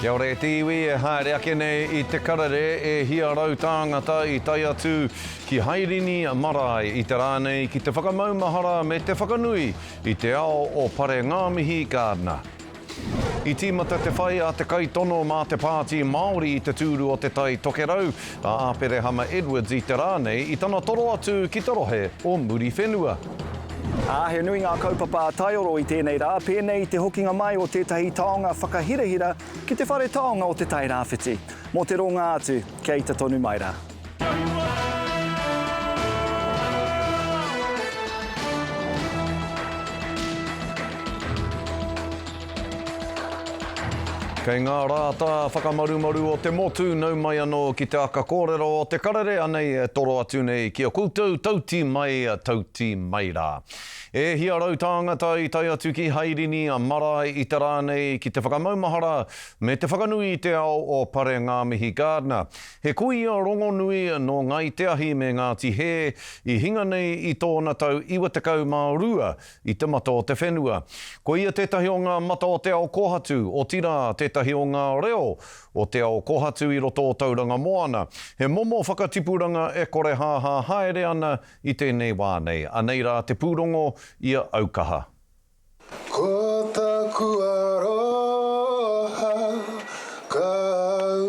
Kia ora e te iwi e haere ake nei i te karere e hia rau tāngata i tae atu ki Hairini marae i te rā nei ki te whakamaumahara me te whakanui i te ao o Pare Ngāmihi Gardner. I tīmata te whai a te kaitono mā te Pāti Māori i te tūru o Te Tai Tokerau Tā Āperehama Edwards i te rā nei i tana toro atu ki te rohe o Muriwhenua. Ā, he nui ngā kaupapa a Taioro i tēnei rā, pēnei i te hokinga mai o tētahi taonga whakahirahira ki te whare taonga o Te Tai Rāwhiti, mō te rōngā atu kia ita tonu mai rā. Kei ngā rā tā whakamarumaru o te motu nau mai anō ki te aka kōrero o te karere anei e toro atu nei ki a koutou tauti mai, tauti mai rā. E hia rau tāngata i tae atu ki Hairini a marae i te rā nei ki te whakamaumahara me te whakanui i te ao o Pare Ngāmihi Gardner, he kuia rongonui nō Ngāi Te Ahi me Ngāti Hē i hinga nei i tōna tau 92 i te mata o te whenua. Ko ia tētahi o ngā mata o te ao kōhatu, otirā, tētahi o ngā reo o te ao kōhatu i roto o Tauranga Moana. He momo whakatipuranga e korehāhā haere ana i tēnei wā nei. Anei rā te pūrongo i a Aukaha. Ko taku aroha ka au.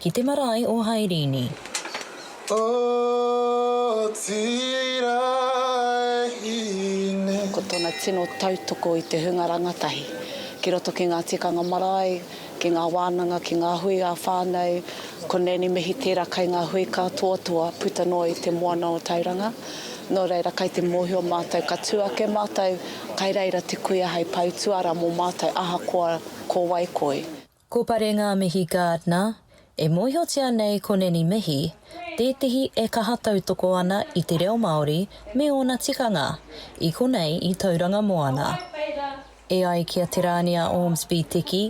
Ki te marae o Hairini. Otirā e Hine. Ko tōna tino tautoko i te hunga rangatahi ki roto ki ngā tikanga marae, ki ngā wānanga, ki ngā hui ā-whānau, ko Nanny Mihi tērā kai ngā hui kātoatoa puta noa i Te Moana o Tauranga. Nō reira, kai te mōhio mātou ka tū ake mātou, kai reira te kuia hei pau tuara mō mātou ahakoa ko wai koi. Ko Parenga Mihi Gardner, e mōhiotia nei ko Nanny Mihi, tētehi e kaha tautoko ana i te reo Māori me ōna tikanga, i konei i Tauranga Moana. E ai ki a Te Rānia Ormsby Teki,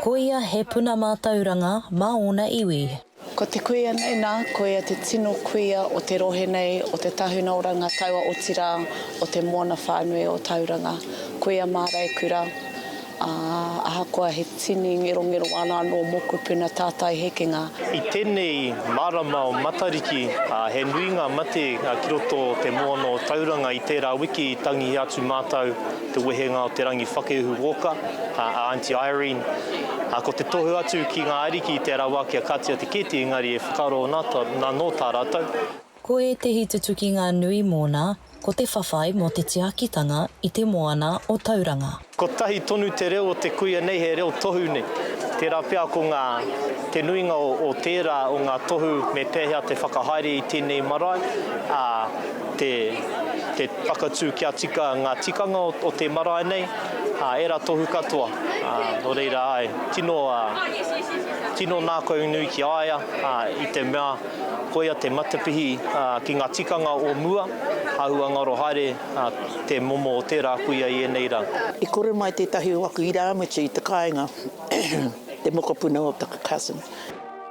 ko ia he puna mātauranga mā ōna iwi. Ko te kuia nei nā, ko ia te tino kuia o te rohe nei, o te tahuna o Rangataua otirā o te moana whānui o Tauranga. Kuia māreikura, ā, ahakoa he tini ngerongero ana anō mō kupuna tātai hekenga, I tēnei marama o Matariki, he nui ngā mate ki roto o te moana o Tauranga i tērā wiki i tangihia atu mātou. te wehenga o Te Rangi Whakehu Walker, a Aunty Irene, ā, ko te tohu atu ki ngā ariki i te rawa ake a Katia Te Keeti engari e whakaaro ana anō tā rātou. Ko ētehi tutukinga nui mōna, ko te whawhai mō te tiakitanga i te moana o Tauranga. Kotahi tonu te reo o te kuia nei he reo tohu nei, tērā pea ko ngā, te nuinga o tērā o ngā tohu me pēhea te whakahaere i tēnei marae, ā, te te whakatū kia tika ngā tikanga o te marae nei, ā, ērā tohu katoa, ā, nō reira, āe, tino, ā, tino nākau nui ki a ia, ā, i te mea, koia te matapihi, ā, ki ngā tikanga o mua, āhua ngaro haere, ā, te momo o tērā kuia i ēnei rā. I kore mai tētahi o aku irāmutu i te kāinga, te mokopuna o taku cousin.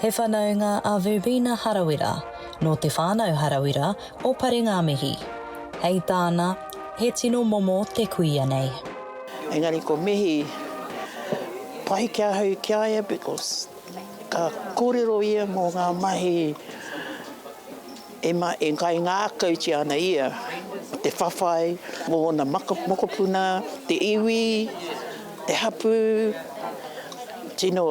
He whanaunga a Verbena Harawira, nō Te Whānau Harawira o Parengāmihi. Hei tāna, he tino momo te kuia nei. Engari ko Mihi, pai ki ahau ki a ia because ka kōrero ia mō ngā mahi. Emma e kaingākautia ana ia, te whawhai o ōna mokopuna, te iwi, te hapū, tino,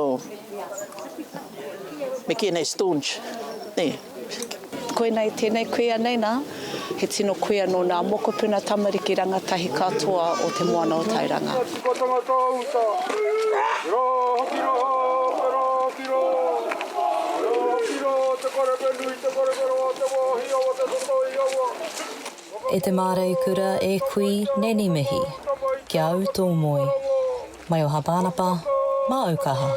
me kīia nei staunch, nē? Koinei tēnei kuia nei nā, he tino kuia nō nā mokopuna tamariki rangatahi katoa o Te Moana o Tairanga. E te māreikura, e kui, neni mihi. Ki a au tō moe. Mai o Hapanapa, māu kaha.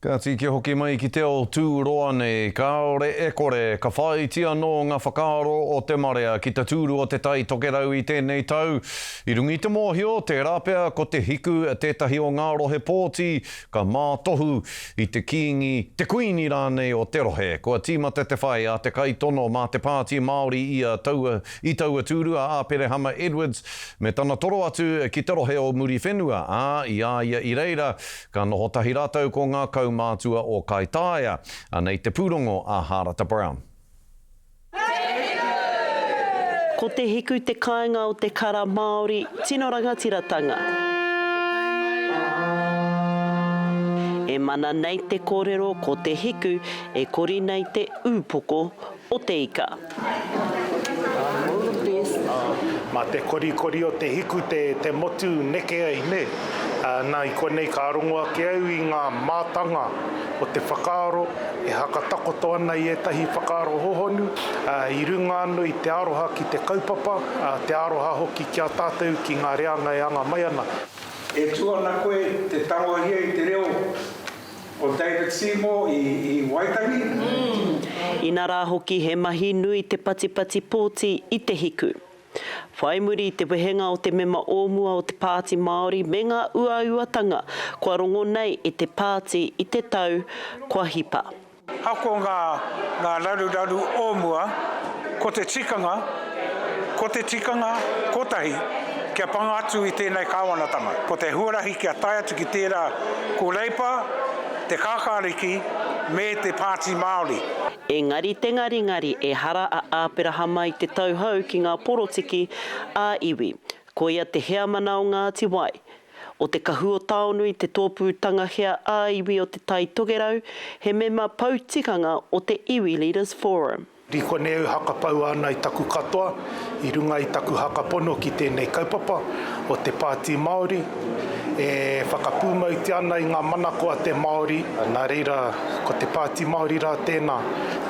Kāti kia hoki mai ki te ao tūroa nei, kāore e kore, ka whāiti anō ngā whakaaro o te marea ki te tūru o Te Tai Tokerau i tēnei tau. I runga i te mōhio, tērā pea ko Te Hiku tētahi o ngā rohe pōti ka mātohu i te Kīngi, te Kuini rānei o te rohe. Kua tīmata te whai a te kaitono mā te Pāti Māori i a taua, i taua tūru a Āperehama Edwards me tana toro atu ki te rohe o Muriwhenua, ā, i a ia i reira ka noho tahi rātou ko ngā kaumātua o Kaitaia. Anei te pūrongo a Hārata Brown. Ko te hiku te kāinga o te kara Māori tino rangatiratanga. E mana nei te kōrero ko te hiku e kori nei te ūpoko o te ika. Ma te korikori o te hiku te te motu neke ai ne? Na i konei ka rongo ake au i nga mātanga. Ko te whakaaro e hakatakoto ana i ētahi whakaaro hohonu, i runga anō i te aroha ki te kaupapa, te aroha hoki ki a tātou ki ngā reanga e anga mai ana. E tū ana koe te tangohia i te reo o David Seymour i Waitangi? Inarā hoki he mahi nui te patipati pōti i te hiku. Whai muri i te wehenga o te mema o mua o te Pāti Māori me ngā uauatanga kua rongo nei e te pāti i te tau kua hipa. Ako ngā ngā raruraru o mua, ko te tikanga, ko te tikanga kotahi kia panga atu i tēnei kāwanatanga, ko te huarahi kia tae atu ki tērā ko Reipa, Te Kākāriki me te Pāti Māori. Engari te ngaringari ehara a Āperahama i te tauhou ki ngā porotiki ā iwi. Koia te heamana o Ngāti Wai. O te kahu o Taonui te tōpū tangahea ā iwi o Te Tai Tokerau, he mema pou tikanga o te Iwi Leaders Forum. Ri konei au hakapaua ana i taku katoa i runga i taku hakapono ki tēnei kaupapa o te Pāti Māori e whakapūmautia ana i ngā manako a te Māori, nā reira ko te Pāti Māori rā tēnā,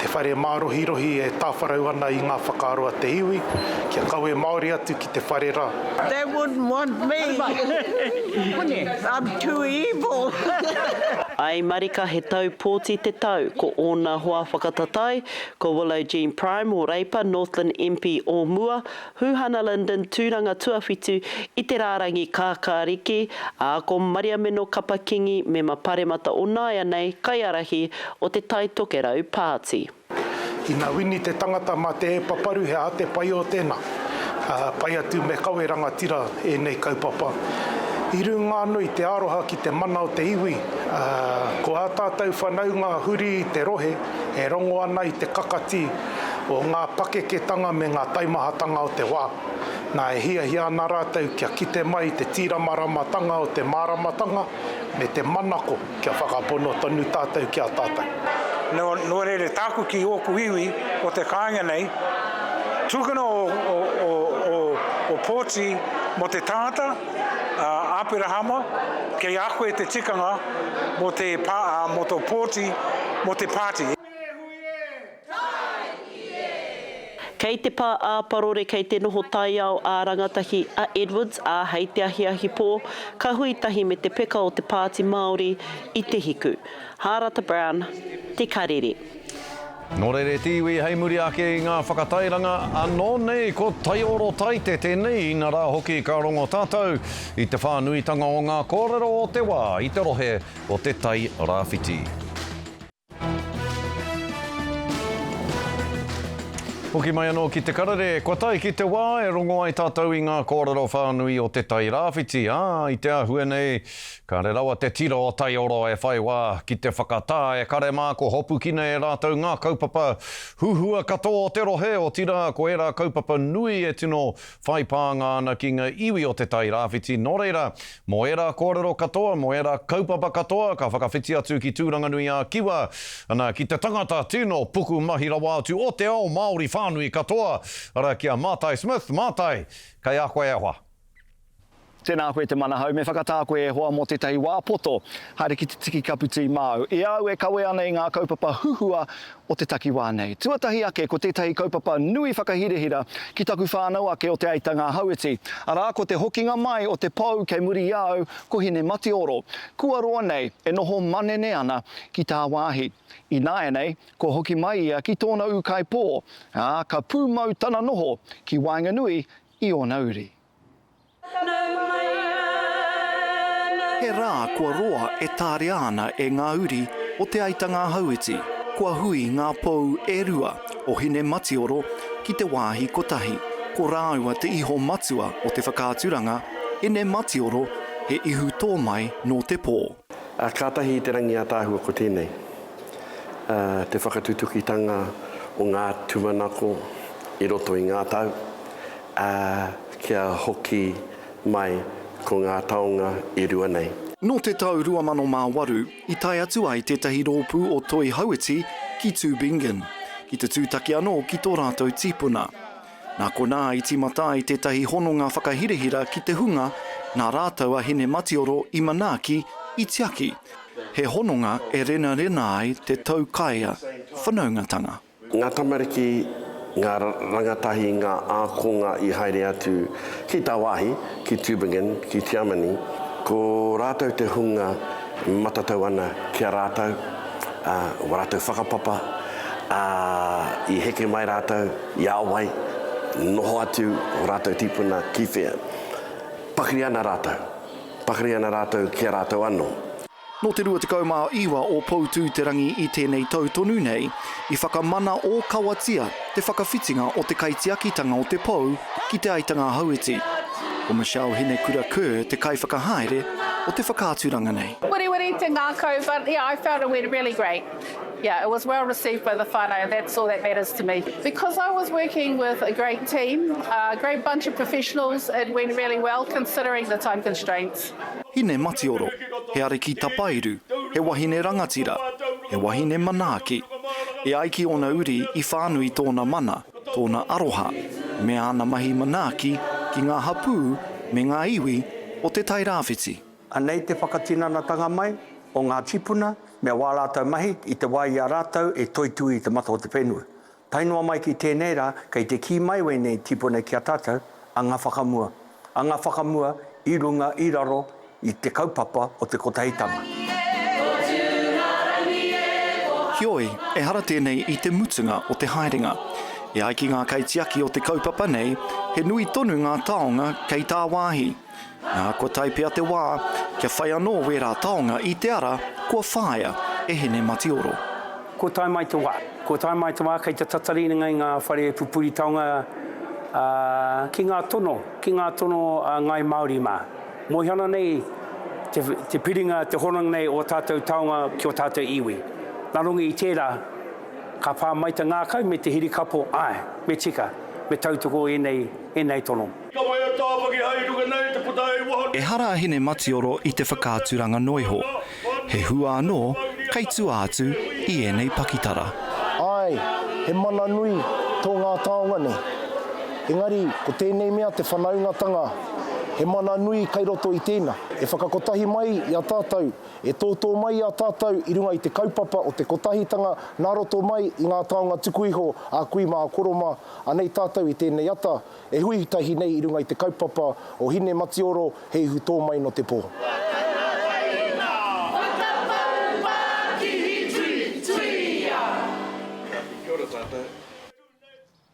te whare mārohirohi e tāwharau ana i ngā whakaaro a te iwi kia kawe māori atu te whare ra. They wouldn't want me. I'm too evil. I marika he tau pōti te tau, ko ōna hoa whakatatai, ko Willow Jean Prime o Reipa, Northland MP o mua, Huhana Linden, tūranga tuawhitu i te rārangi kākāriki, ā, ko Mariameno Kapa Kingi, mema paremata o nāianei, kaiarahi o te Taitokerau Pāti. Ina wini te tangata ma te paparu he aha te pai o tena? Pai atu me kawe rangatira enei kaupapa. I runga ano i te aroha ki te mana o te iwi, ko a tatou whanaunga huri i te rohe e rongo ana i te kakati o nga pakeketanga me nga taimahatanga o te wa. Na e hiahia ana ratou kia kite mai i te tiramaramatanga o te maramatanga me te manako. Kia whakapono tonu tātou ki a tātou. Nō reira, tāku ki ōku iwi o te kāinga nei, tukuna ō pōti mō te tangata, a Aperahama, kei a koe te tikanga mō tō pōti mō te pāti. Kei te pā ā-parore kei te noho taiao ā-rangatahi a Edwards, ā, hei te ahiahi pō, ka hui tahi me te peka o te Pāti Māori i te hiku. Hārata Brown, Te Karere. Nō reira te iwi hei muri ake i ngā whakatairanga anō nei ko Taiorotaite tēnei inarā hoki ka rongo tātou i te whānuitanga o ngā kōrero o te wā i te rohe o te Tai Rāwhiti. Hoki mai anō ki te karere, kua tae ki te wā e rongo ai tātou i ngā kōrero whānui o Te Tai Rāwhiti, ā, i te āhua nei, kāre rawa te tiro o Taioroa e whai wā ki te whakatā e kare mā kua hopukina e rātou ngā kaupapa huhua katoa o te rohe, otirā ko ērā kaupapa nui e tino whai pānga ana ki ngā iwi o Te Tai Rāwhiti, nō reira, mō ērā kōrero katoa, mō ērā kaupapa katoa, ka whakawhiti atu ki Tūranganui-ā-Kiwa, ana, ki te tangata tino puku mahi rawa atu o te ao Māori whānui katoa, arā, ki a Mātai Smith, Mātai, kei a koe e hoa. Tēnā koe te manahau, me whakatā koe e hoa mō tētahi wā poto, haere ki te tiki kapu tī māu. I a au e kawe ana i ngā kaupapa huhua o te takiwā nei. Tuatahi ake ko tētahi kaupapa nui whakahirahira ki taku whānau ake o Te Aitanga-a-Hauiti, arā ko te hokinga mai o te pou kei muri i a au ko Hinematioro. Kua roa nei e noho manene ana ki tāwāhi. Ināianei, kua hoki mai ia ki tōna ūkaipō, ā, ka pūmau tana noho ki waenganui i ōna uri. He rā kua roa e tārea ana e ngā uri o Te Aitanga-a-Hauiti, kua hui ngā pou e rua o Hinematioro ki te wāhi kotahi. Ko rāua te iho matua o te whakaaturanga, Hinematioro, he ihu tō mai nō te pō. Kātahi i te rangi ātaahua ko tēnei, te whakatutukitanga o ngā tūmanako i roto i ngā tau, Ā, kia hoki mai ko ngā taonga e rua nei. Nō te tau 2008, i tae atu ai tētahi rōpū o Toi Hauiti ki Tubingen, ki te tūtaki anō ki tō rātou tīpuna. Nā konā i tīmata ai tētahi hononga whakahirahira ki te hunga nā rātou a Hine Matioro i manaaki, i tiaki, he hononga e renarena ai te taukaea whanaungatanga. Ngā tamariki, ngā rangatahi, ngā ākonga i haere atu ki tāwāhi, ki Tübingen, ki Tiamani, ko rātou te hunga e matatau ana ki a rātou, ā, ko rātou whakapapa, ā, i heke mai rātou i a wai, noho atu ō rātou tīpuna ki whea. Pakari ana rātou, pakari ana rātou ki a rātou anō. Nō te 29 o Poutū-te-rangi i tēnei tau tonu nei, i whakamana ōkawatia te whakawhitinga o te kaitiakitanga o te pou ki Te Aitanga Hauiti. Ko Michelle Hinekura Kerr te kaiwhakahaere o te whakaaturanga nei. Wiriwiri te ngakau but yeah I felt it went really great yeah it was well received by the whanau that's all that matters to me because I was working with a great team a great bunch of professionals it went really well considering the time constraints. Hine matioro, he ariki tapairu, he wahine rangatira, he wahine manaaki. E ai ki ōna uri i whānui tōna mana, tōna aroha, me āna mahi manaaki ki ngā hapū me ngā iwi o Te Tai Rāwhiti. Anei te whakatinanatanga mai o ngā tīpuna me wā rātou mahi i te wā i a rātou e toitū i te mata o te whenua. Tae noa mai ki tēnei rā, kei te kī mai wēnei tīpuna ki a tātou, a ngā whakamua, a ngā whakamua i runga, i raro i te kaupapa o te Kotahitanga. Heoi, ehara tēnei i te mutunga o te haerenga. E ai ki ngā kaitiaki o te kaupapa nei, he nui tonu ngā taonga kei tāwāhi. Nā, kua tae pea te wā, kia whai anō wērā taonga i te ara kua whāia e Hine-mati-oro. Kua tae mai te wā. Kua tae mai te wā, kei te tatari ngai ngā whare pupuri taonga ki ngā tono, ki ngā tono a Ngāi Māori mā. Moe ana nei te piringa, te hononga nei o ō tātou taonga ki ō tātou iwi. Nā runga i tērā, ka pā mai te ngākau me te hirikapo, āe, me tika, me tautoko ēnei, ēnei tono. Ka whai a Tāwhaki hai ruka nei te puta hei waho nei. Ehara a Hine Matioro i te whakaaturanga noiho. He hua anō kei tua atu i ēnei pakitara. Āe, he mana nui tō ngā taonga nei. Engari, ko tēnei mea te whanaungatanga, he mana nui kei roto i tēnā. E whakakotahi mai i a tātou, e tōtō mai i a tātou i runga i te kaupapa o te kotahitanga nā roto mai i ngā taonga tuku iho a kui mā a koro mā, anei tātou i tēnei ata, E hui tahi nei i runga i te kaupapa o Hine Matioro he ihu tō mai nō te pō.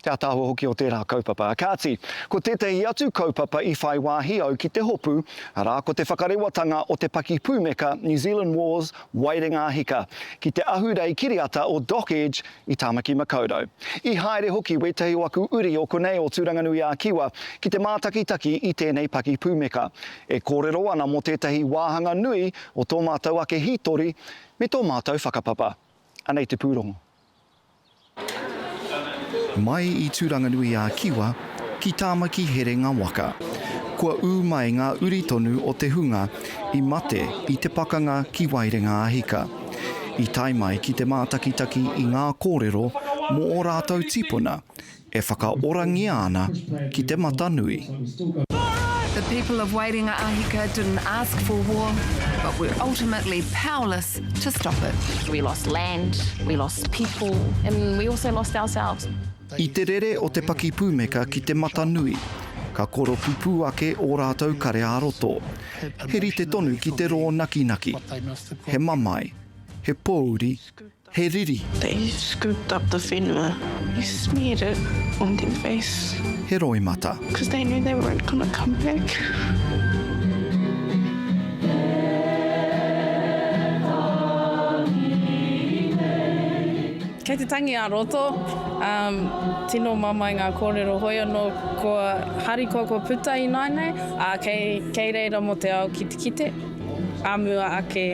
Te ātaahua hoki o tērā kaupapa. Kāti, ko tētahi atu kaupapa i whai wāhi au ki te hopu, arā, ko te whakarewatanga o te pakipūmeka New Zealand Wars Waerenga Hika, ki te ahurei kiriata o Doc Edge i Tāmaki Makaurau. I haere hoki wētahi o aku uri o konei o Tūranganui-ā-Kiwa ki te mātakitaki i tēnei paki pūmeka, e kōrero ana mō tētahi wāhanga nui o tō mātou ake hītori me tō mātou whakapapa. Anei te pūrongo. Mai i Tūranganui-ā-Kiwa ki Tāmaki Herenga Waka. Kua ū mai ngā uri tonu o te hunga i mate i te pakanga ki Waerenga-a-Hika. I tae mai ki te mātakitaki i ngā kōrero mō ō rātou tipuna E whakaorangia ana ki te mata nui. The people of Waerenga-a-Hika didn't ask for war, but were ultimately powerless to stop it. We lost land, we lost people, and we also lost ourselves. I te rere o te pakipūmeka ki te mata nui, ka koropupū ake ō rātou kare ā-roto. He rite tonu ki te rōnakinaki. He mamae, he pōuri, He riri. They scooped up the whenua. They smeared it on their face. He roimata. Because they knew they weren't going to come back. Kei te tangi a roto, um, tino mamae ngā kōrero hoi anō ko harikoa ko puta i nāinei, a kei, kei reira mō te ao ki te kite, a mua ake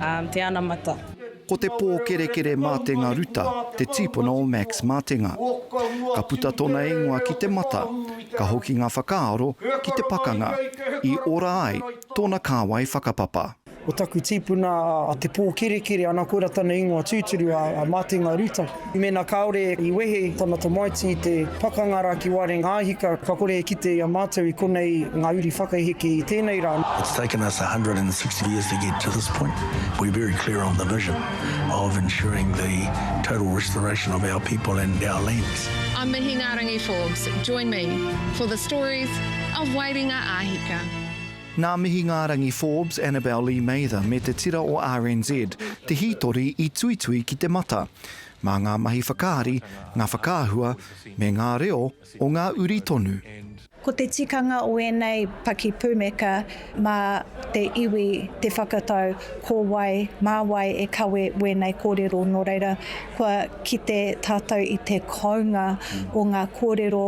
um, te anamata. Ko te pōkerekere mātenga Ruta te tīpuna o Max Matenga. Ka puta tona ingoa ki te mata, ka hoki nga whakaaro ki te pakanga, i ora ai tona kāwai whakapapa. Ko taku tīpuna a Te Pōkerekere, ana koira tana ingoa tūturu a Matenga Ruta. Mēnā kāore i wehe tana tamaiti i te pakanga rā ki Wairengāhika, ka kore e kite i a mātou i konei ngā uri whakaheke i tēnei rā. It's taken us a hundred and sixty years to get to this point. We're very clear on the vision of ensuring the total restoration of our people and our lands. I'm Mihingārangi Forbes, join me for the stories of Wairengāhika. Nā Mihingārangi Forbes, Annabelle Lee Mather me te tira o RNZ te hītori i tuitui ki te mata. Mā ngā mahi whakaari, ngā whakaahua, me ngā reo o ngā uri tonu. Ko te tikanga o ēnei pakipūmeka mā te iwi te whakatau ko wai, mā wai e kawe wēnei kōrero nō reira kua kite tātou i te kounga o ngā kōrero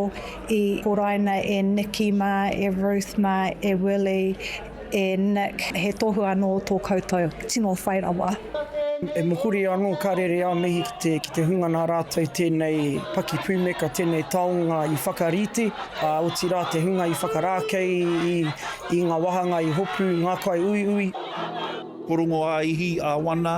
I horaina e Nikki mā, e Ruth mā, e Willie, e Nick, he tohu anō tō koutou. Tino whai rawa. E mohuri anō ka rere a mihi ki te, ki te hunga nā rātou tēnei paki pūmeka, tēnei taonga i whakarite, ā, otirā te hunga i whakarākei i, i ngā wāhanga i hopu ngā kai uiui. Porongo ā-ihi, ā-wana.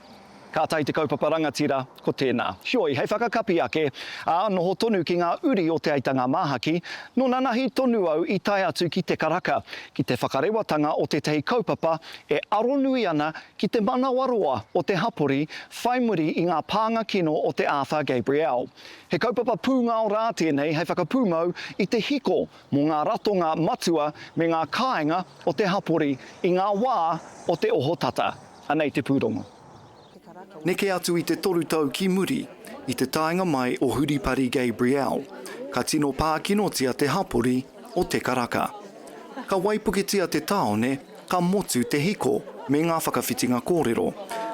Ka tae te kaupapa rangatira, ko tēnā. Heoi, hei whakakapi ake, ā, noho tonu ki ngā uri o Te Aitanga Māhaki, nō nanahi tonu au i tae atu ki te karaka, ki te whakarewatanga o tētahi kaupapa e aronui ana ki te manawaroa o te hapori whai muri i ngā pānga kino o te Arthur Gabriel. He kaupapa pūngao rā tēnei hei whakapūmau i te hiko mō ngā ratonga matua me ngā kāinga o te hapori i ngā wā o te ohotata. Anei te pūrongo. Neke atu i te toru tau ki muri, i te taenga mai o Huripari Gabriel, ka tino pākinotia te hapori o Te Karaka. Ka waipuketia te tāone, ka motu te hiko me ngā whakawhitinga kōrero,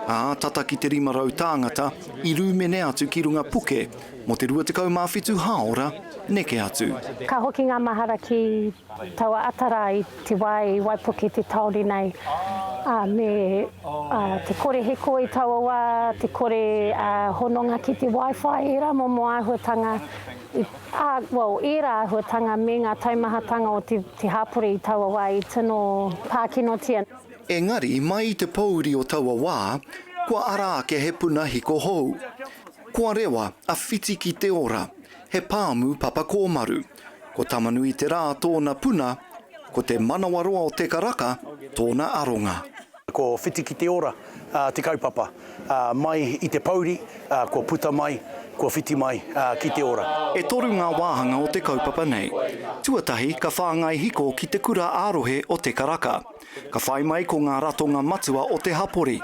ā, tata ki te 500 tāngata i rūmene atu ki runga puke mō te 27 hāora neke atu. Ka hoki ngā mahara ki taua ata rā i. Te wā i waipuke te tāone nei, ā, me te kore hiko i taua wā, te kore hononga ki te Wi-Fi, ērā momo āhuatanga, ā, well, ērā āhuatanga me ngā taumahatanga o te hapori i taua wā i tino pākinotia. Engari, mai i te pōuri o taua wā, kua ara ake he puna hiko hou. Kua rewa a Whiti ki te ora, he pāmu papa kōmaru. Ko Tamanuiterā tōna puna, ko te manawaroa o Te Karaka tōna aronga. Ko Whitikiteora te kaupapa, mai i te pouri, kua puta mai, kua whiti mai ki te ora. E toru ngā wāhanga o te kaupapa nei. Tuatahi, ka whāngai hiko ki te kura ā-rohe o Te Karaka. Ka whai mai ko ngā ratonga matua o te hapori,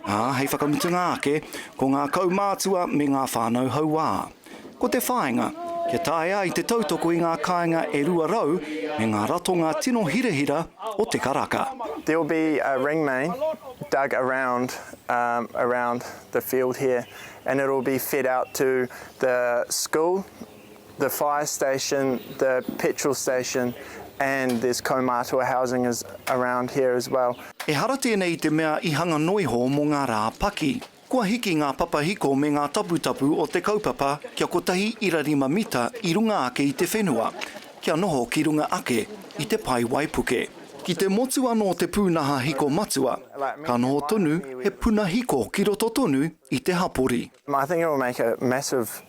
ā, hei whakamutunga ake, ko ngā kaumātua me ngā whānau hauā. Ko te whāinga, kia taea ai te tautoko i ngā kāinga e 200 me ngā ratonga tino hirahira o te karaka. There will be a ring main dug around around the field here and it will be fed out to the school, the fire station, the petrol station and there's kaumātua housing around here as well. Ehara tēnei i te mea i hanga noiho mō ngā rā paki. Kua hiki ngā papahiko me ngā taputapu o te kaupapa kia kotahi ira rima mita i runga ake i te whenua, kia noho ki runga ake i te pae waipuke. Ki te motu anō te pūnaha hiko matua, ka noho tonu he puna hiko ki roto tonu i te hapori.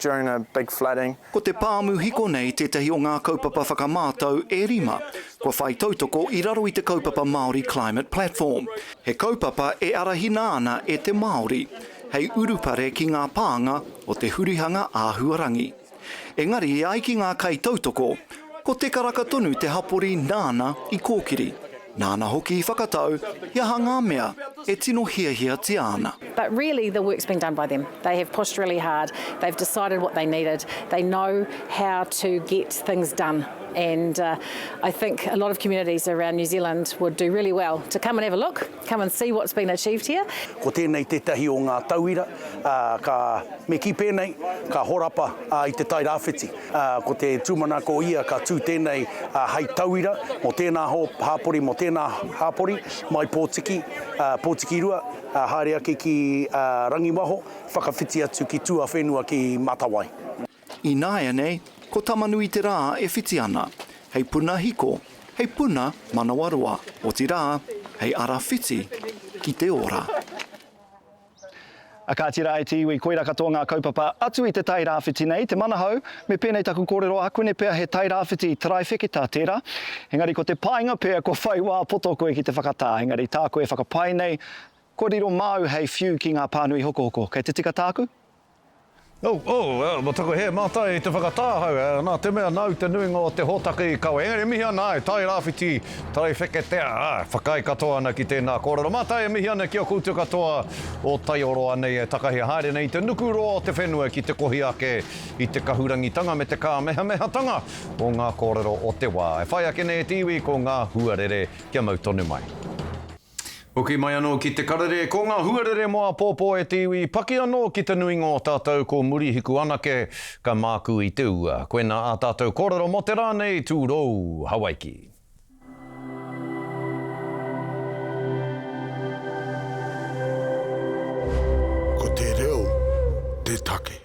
during a big flooding. Ko te pāmu hiko nei tētahi o ngā kaupapa whakamātau e rima kua whai tautoko i raro i te kaupapa Māori Climate Platform. He kaupapa e arahina ana e te Māori hei urupare ki ngā pānga o te hurihanga āhuarangi. Engari e ai ki ngā kaitautoko, ko Te Karaka tonu te hapori nāna i kōkiri. Nāna hoki i whakatau he aha ngā mea e tino hiahiatia ana. But really the work's been done by them. They have pushed really hard, they've decided what they needed, they know how to get things done and I think a lot of communities around New Zealand would do really well to come and have a look, come and see what's been achieved here. Ko tēnei tētahi o ngā tauira, ā, ka, me kī pēnei, ka horapa, ā, i Te Tai Rāwhiti. Ko te tūmanako ia ka tū tēnei hei tauira mō tēnā hāpori, mō tēnā hāpori, mai Pōtiki, Pōtikirua, haere ake ki Rangiwaho, whakawhiti atu ki tuawhenua ki Matawai. Ināianei, ko Tamanui te rā e whiti ana, hei puna hiko, hei puna manawaroa, otirā, hei ara whiti ki te ora. Kāti rā e te iwi, koirā katoa ngā kaupapa atu i te Tairāwhiti nei, te manahau, me pēnei taku kōrero ākuene pea he Tairāwhiti taraiwheketā tērā, engari ko te painga pea kua whai wā poto koe ki te whakatā, engari tāku e whakapae nei, kua riro māu hei whiu ki ngā pānui hokohoko, kei te tika tāku? Mō taku hē mātai i te whakatāhau, nā te mea nāu te nuinga o te hōtaka i kawe, engari e mihi ana ai, Tairawhiti, Taiwheketea, āe, whakaae katoa ana ki tēnā kōrero. Mātai e mihi ana ki a koutou katoa o Taioroa nei e takahi haere nei i te nuku roa o te whenua ki te kohi ake i te kahurangitanga me te kāmehamehatanga o ngā kōrero o te wā. E whai ake nei e te iwi ko ngā huarere kia mau tonu mai. Hoki mai anō ki te karere, ko ngā huarere mō apōpō e te iwi, paki anō ki te nuinga o tātou ko Murihiku anake ka mākū i te ua. Koinā ā tātou kōrero mō te rā nei, Tūrou, Hawaiki. Ko te reo te take.